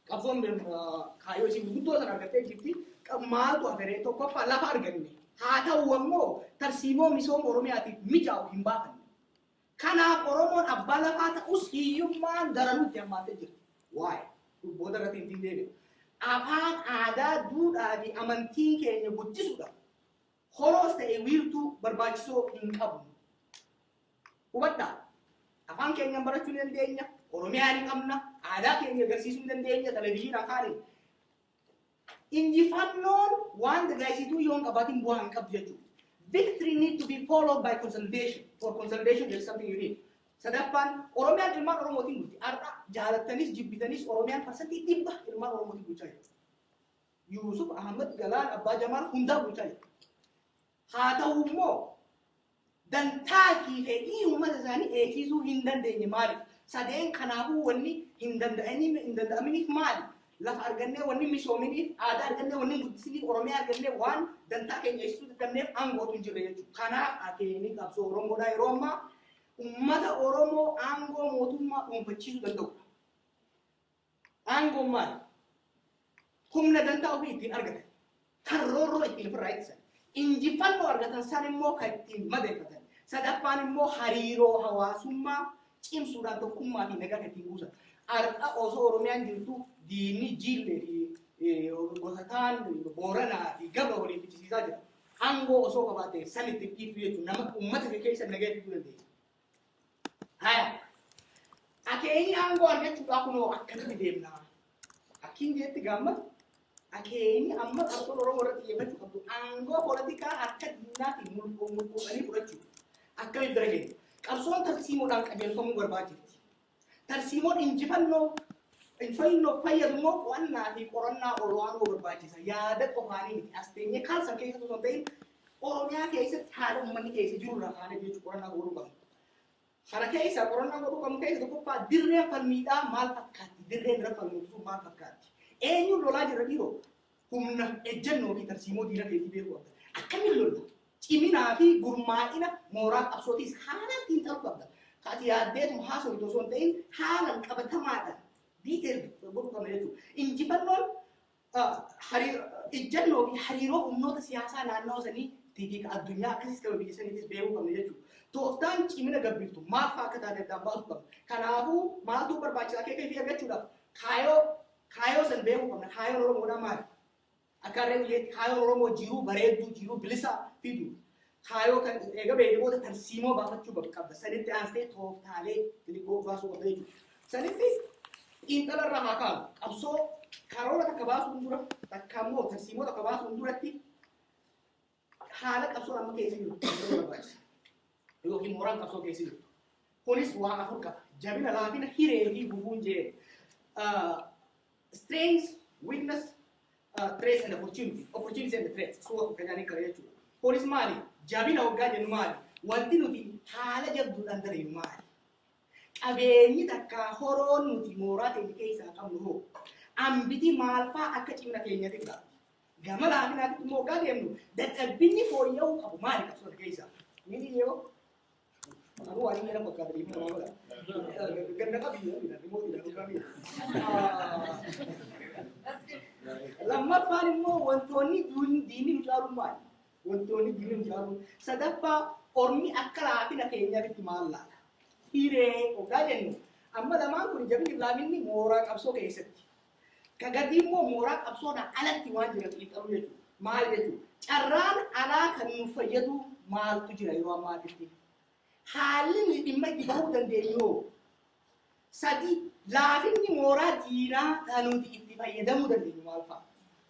Qabsoon kaayyoo isin guddoo sana argattee jirti. Maaltu haferee tokkoffaa lafa arganne. Haa ta'u ammoo tarsiimoo misooma Oromiyaatiif mijaa'u hin baafanne. Kanaaf Oromoon abbaa lafaa ta'us hiyyummaan daranuu itti hammaattee jirti. Waa'ee dhubboota irratti hin deebi'u. Afaan, aadaa, duudhaa fi amantiin keenya guddisuudhaaf horoos ta'e wiirtuu barbaachisoo hin qabnu. Hubadhaa, afaan keenyaan barachuu ni dandeenya, Oromiyaa ni qabna, aadaa keenya agarsiisuu ni dandeenya, televezyiina afaaniin. Injifannoon waan dagaagsituu yoo hin qabaatin bu'aa hin qabdu jechuudha. Victory need to be followed by consolidation. For consolidation there is something you need. Sadaffaan Oromiyaan ilmaan Oromootiin bulti. Har'a jaalattanis jibbitanis Oromiyaan parsantii dhibba ilmaan Oromootiin bulchaa jirti. Yuusuf Ahmad Galaan Abbaa Jamaal hundaa bulchaa jira. Haa ta'u immoo dantaa fi fedhii uummata isaanii eegsisuu hin dandeenye maaliif? Sadeen kanaafuu wanni hin danda'aminiif hin danda'aminiif maali? Lafa argannee wanni misoominiif, aadaa argannee wanni guddisiniif, Oromiyaa argannee waan dantaa keenya eegsisuu dadhabneef aangootu hin jirre jechuudha. Kanaaf akeekni qabsoo Oromoodhaa yeroo ammaa uummata Oromoo aangoo mootummaa dhuunfachiisuu danda'udha. Aangoon maali? Humna dantaa ofii ittiin argatan, kan roorroo ittiin ofirraa ittisan, injifannoo argatan san immoo kan ittiin madeeffatan. Sadaffaan immoo hariiroo hawaasummaa cimsuudhaan tokkummaa fi nagaa kan ittiin buusan. Har'a osoo Oromiyaan jirtu diinni jiillee fi eh, gosataan Booranaa fi Gabra waliin fichisiisaa jira. Aangoo osoo qabaatte san ittiin dhiibdu jechuun nama uummata kee keessa nagaa fiduu dandeenya. Haya. Akeenyi aangoo argachuudhaa kunoo akkamitti deemnaa? Akkiin jeetti gaamma akeenyi amma qabsoon Oromoo irratti xiyyeeffachuu qabdu aangoo poolitikaa harka diinaatiin mulquu mulquudhanii fudhachuu akkamitti bira geenya? Qabsoon tarsiimoodhaan qajeelfamuu barbaachifti. Tarsiimoon injifannoo injfannoof fayyadu immoo qo'annaa fi qorannaa ol'aanoo barbaachisa. Yaada qofaanii miti. As teenyee kaal san keessatti osoo hin ta'in Oromiyaa keessatti haala ummanni keessa jiru irraa kaanee jechuun qorannaa godhuu qabna. Kana keessa qorannaa godhuu qabnu keessa tokkoffaa dirreen falmiidhaa maal fakkaatti? Dirreen irra falmuu maal fakkaatti? Eenyuun lolaa jirra dhiiroo? Humna, ejjennoo fi tarsiimoo diina keetii beekuu qabda. Akkamiin lolta? Ciminaa fi gurmaa'ina mooraa qabsootiis haalaan xiinxaluu qabda. Ka ati yaaddeetuma haasoftu osoo hin ta'in haalan qabatamaadhaan detailed godhuu qabna jechuudha. Injifannoon ah, hari- ejjennoo fi hariiroo humnoota siyaasaa naannoo sanii fi ka addunyaa akkasiis qaba biyya saniitis beekuu qabna jechuudha. Tooftaan cimina gabbiftu maal fa'aa akka taate addaan baasuu qabna. Kanaafuu maaltu barbaachisaa KKP argachuudhaaf kaayoo Kaayoo san beekuu qabna. Kaayoon Oromoodhaa maali? Akka harree biyyeetti kaayoon Oromoo jiruu bareedduu, jiruu bilisaa fidu. Kaayoo kan eega beekne booda tarsiimoo baafachuu bak- qabda. Sanitti aansitee tooftaalee xixiqqoo baasuu qabda jechuudha. Sanitti xiinxala irraa haa kaanu. Qabsoo karoora takka baasuun dura takka immoo tarsiimoo takka baasuun duratti haala qabsoon amma keessa jiru qabsoo barbaachisa. Yookiin mooraan qabsoo keessa jiru. Kunis waan afur qaba. Jabina, laafina, hiree fi gufuun jee. Uh, strength, weakness, uh, threats and opportunity. Opportunity and threats. Suura kan jedhanii kana jechuudha. Kunis maali? Jabina hoggaa jennu maali? Wanti nuti haala jabduudhaan dareenyu maali? qabeenyi takka horoon nuti mooraa keenya keessaa qabnu hoo ambitii maalfaa akka cimina keenyatti godha. Gama laafinaatti immoo hoggaa deemnu dadhabbinni fooyya'uu qabu maali qabsoo kana keessaa? Ni dhiyeewa? Anuu waan inni jedhan fakkaata deemuu namaa godha. Ganna qabiyyee inni dha, dhimmoo inni dha, dhugaa miti. Lammaffaan immoo wantoonni duun- diinni nu caaluun maali? Wantoonni diinni nu caaluun. Sadaffaa ormi akka laafina keenyaatti maal laala? Hiree hoggaa jennu amma lamaan kun jabinni fi laafinni mooraa qabsoo keessatti Ka gadii immoo mooraa qabsoodhaa alatti waan jiran xiinxaluu jechuudha. Maal jechuudha? Carraan alaa kan nu fayyadu maaltu jira yeroo ammaatitti? Haalli nuyi dhimma itti bahuu dandeenyu hoo? Sadii, laafinni mooraa diinaa kan nuti itti fayyadamuu dandeenyu maal fa'a?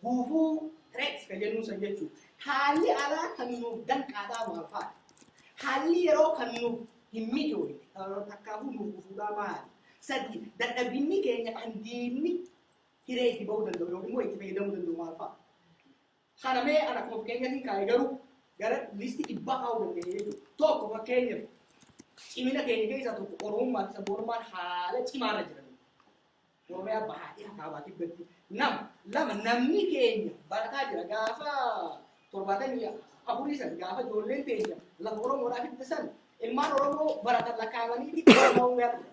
Gufuu, threats, kan jennuu san jechuu. Haalli alaa kan nuuf danqaadhaa maal faati? Haalli yeroo kan nuuf hin mijoone takkaafuu nuuf gufuudhaa maali? Sadii, dadhabinni keenya kan diinni hiree itti ba'uu danda'u yookiin immoo itti fayyadamuu danda'u maal fa'a? Kana mee ana akkuma fakkeenyatiin kaa'e garuu gara liistii dhibbaa kaa'uu dandeenya jechuudha. Tokko fakkeenyaaf cimina keenya keessaa tokko oromummaa fi sabboonummaan haala cimaarra jiran. Oromiyaa bahaa dhiha kaabaa kibbatti nama lama namni keenya barataa jira gaafa torbaatamii afurii san gaafa ijoolleen teenya lafa Oromoodhaa fidde san ilmaan Oromoo baratan lakkaa'amanii Oromoo guyyaa dhufe.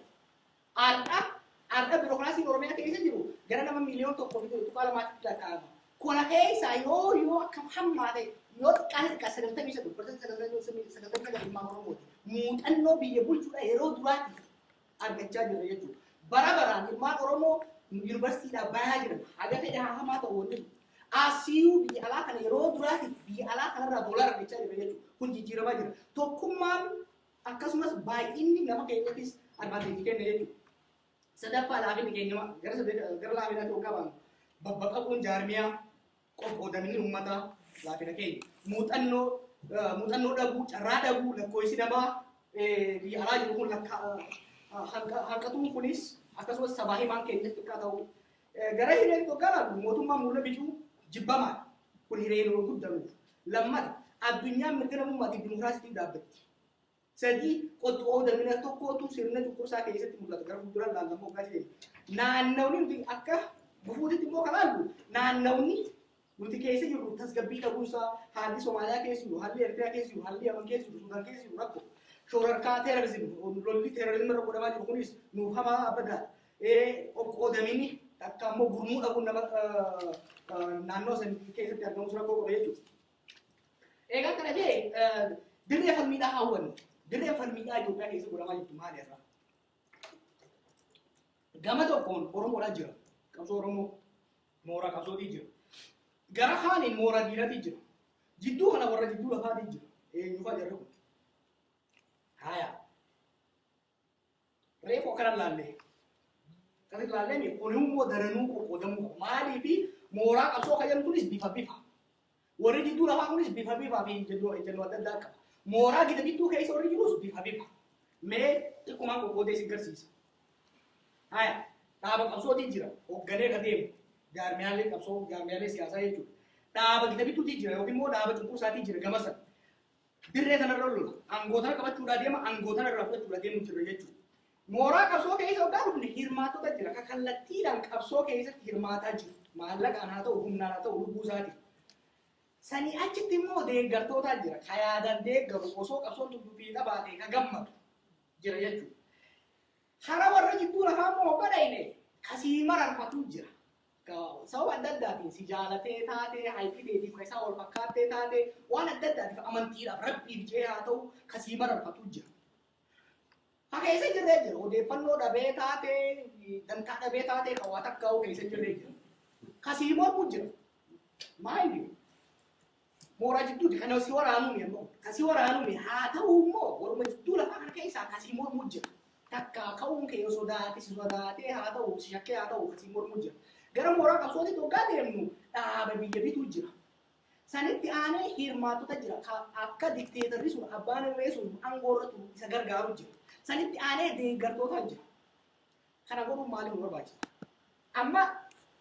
Har'a har'a birookiraasiin Oromiyaa keessa jiru gara nama miiliyoon tokko fi tuqaa lamaatti lakkaa'ama. Kona keessaa yoo yoo akka hammaa ta'e yoo xiqqaan xiqqaa sagaltamii sadii barsiisa sagaltamii sagaltamii sagal ilmaan Oromooti. Muuxannoo biyya bulchuudha yeroo duraatiif argachaa jirra jechuudha. Bara baraan ilmaan Oromoo yuunivarsiitiidhaa bayaa jiran haga fedhe haa hamaa ta'u wanni jiru. Asiyuu biyya alaa kana yeroo duraatiif biyya alaa kanarraa boola argachaa jirra jechuudha. Kun jijjiiramaa jira. Tokkummaan akkasumas baay'inni nama keenyattis advaanteejii kenna jechuudha. Sadaffaa laafinni keenya gara sadee- gara laafinatti waggaa baanu babbaqaquun jaarmiyaa Qoqqoodamni ummataa laafina keenya. Muuxannoo muuxannoo dhabuu, carraa dhabuu, lakkoofsi namaa biyya alaa jiru kun hanqatuun kunis akkasumas sabaa himaan keenya xiqqaa ta'uu. Gara hireen tokko mootummaan muula bicuu jibbamaadha. Kun hiree yeroo guddanuuf. Lammata addunyaan mirga namummaa fi dimokiraasiitiif dhaabbatti. 3, Qottu oo damina tokkootu sirna cunqursaa keessatti mul'ata gara fuulduraan laallamuu hoggaa jedhani. Naannawni nuti akka gufuutitti immoo kan laallu naannawni nuti keessa jirru tasgabbii dhabuunsaa haalli Somaaliyaa keessa jiru, haalli Ertiraa keessa jiru, haalli Yaman keessa jiru, Sudaan keessa jiru rakko. Shoorarkaa teerorizim, lolli teerorizim irra godhamaa jiru kunis nuuf hamaa abada. Qoqqoodaminni takka immoo gurmuu dhabuun nama naannoo san keessatti argamus rakkoo qaba jechuudha. Egaa kana ta'e dirree falmiidhaa hawwannu. Dirreen falmiidhaa Itoophiyaa keessa godhamaa jirtu maali irraa? Gama tokkoon Oromoodhaa jira. Qabsoo Oromoo mooraa qabsootii jira. Gara kaaniin mooraa diinatii jira. Jidduu kana warra jidduu lafaatii jira. Eenyufaa jarri kun? Haayaa. Reefu akkana laallee. Akkasitti laallee mi kun immoo daranuu qoqqoodamuu qabu. Maaliif mooraa qabsoo kan jedhu kunis bifa bifa. Warri jidduu lafaa kunis bifa bifaa fi ejjennoo ejjennoo adda addaa qaba. Mooraa gida gidduu keessa warri jirus bifa bifa. Mee xiqqumaan qoqqoodee si garsiisa. Haya dhaaba qabsootii jira hoogganee ka deemu jaarmiyaalee qabsoo jaarmiyaalee siyaasaa jechuudha. Dhaaba gida gidduutii jira yookiin immoo dhaaba cunqursaatii jira gama sana. Dirree kanarra lollu. Aangoo tana qabachuudhaa deema, aangoo tana irraa fudhachuudhaa deemu jirra jechuudha. Mooraa qabsoo keessa hoggaa dhufne hirmaattota jira. Ka kallattiidhaan qabsoo keessatti hirmaataa jiru. Maallaqaan haa ta'u, humnaan haa ta'u, lubbuu isaatiin. Sanii achitti immoo deeggartootaa jira. Ka yaadaan deeggaru osoo qabsoon tun dubbii dhabaatee ka gammadu jira jechuudha. Hara warra jidduu lafaa immoo hogga dhayne kasii mararfatu jira. ka sababa adda addaatiin si jaalatee taatee haayikii teetiif ka isaa wal fakkaattee taatee waan adda addaatiif amantiidhaaf rabbiif jee haa ta'u ka sii mararfatu jira. Ka keessa jirree jira odeeffannoo dhabee taatee dantaa dhabee taatee ka waa takkaa'uu keessa jirree jira. Ka sii mormu jira. Maayini Mooraa jidduuti kan si waraanuu mi ammoo kan si waraanuu mi haa ta'uu immoo waruma jidduu lafaa kana keessaa kan si mormuu jira. Takka ka'uun kee yoo sodaate si sodaatee haa ta'u si shakkee haa ta'u kan si mormuu jira. Gara mooraa qabsootitti hoggaa deemnu dhaaba biyya bituu jira. Sanitti aanee hirmaattota jira ka akka dikteetarri sun abbaan irree sun aangoo irra turu isa gargaaru jira. Sanitti aanee deeggartoota jira. Kana godhuun maaliif nu barbaachisa? Amma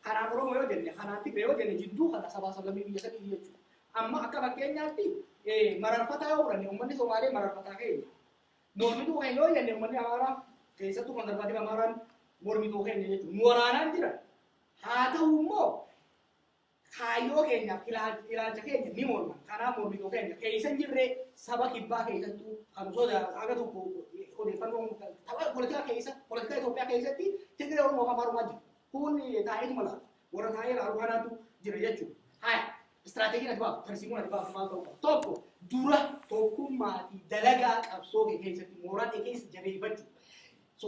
kanaan Oromoo yoo jenne, kanaan Tigre yoo jenne jidduu kana sabaa sablammii biyya sadiiti jechuudha. Amma akka fakkeenyaatti eh, mararfataa yoo fudhanne uummanni Somaalee mararfataa keenya. Mormituu keenya yoo jenne uummanni Amaaraa keessattuu konservaativa Amaaraan mormituu keenya jechuudha. Nu waraanaan jira. Haa ta'u immoo Kaayyoo keenyaa fi ilaalcha keenya ni morman. Kanaaf mormituu keenya keessa hin jirre saba kibbaa keessattuu kan sodaatu haga tokko odeeffannoo tapha poolitikaa keessa poolitikaa Itoophiyaa keessatti Tigiree Oromoo kan marumaa jiru. Kun taa'eetuma laata. Warra taa'ee ilaalu kanaatu jira jechuudha. Haya istiraateejiin ati baaftu tarsiimoon ati baaftu maal ta'uu qaba? Tokko dura tokkummaa fi dalagaa qabsoo kee keessatti mooraa kee keessa jabeeffachuu. So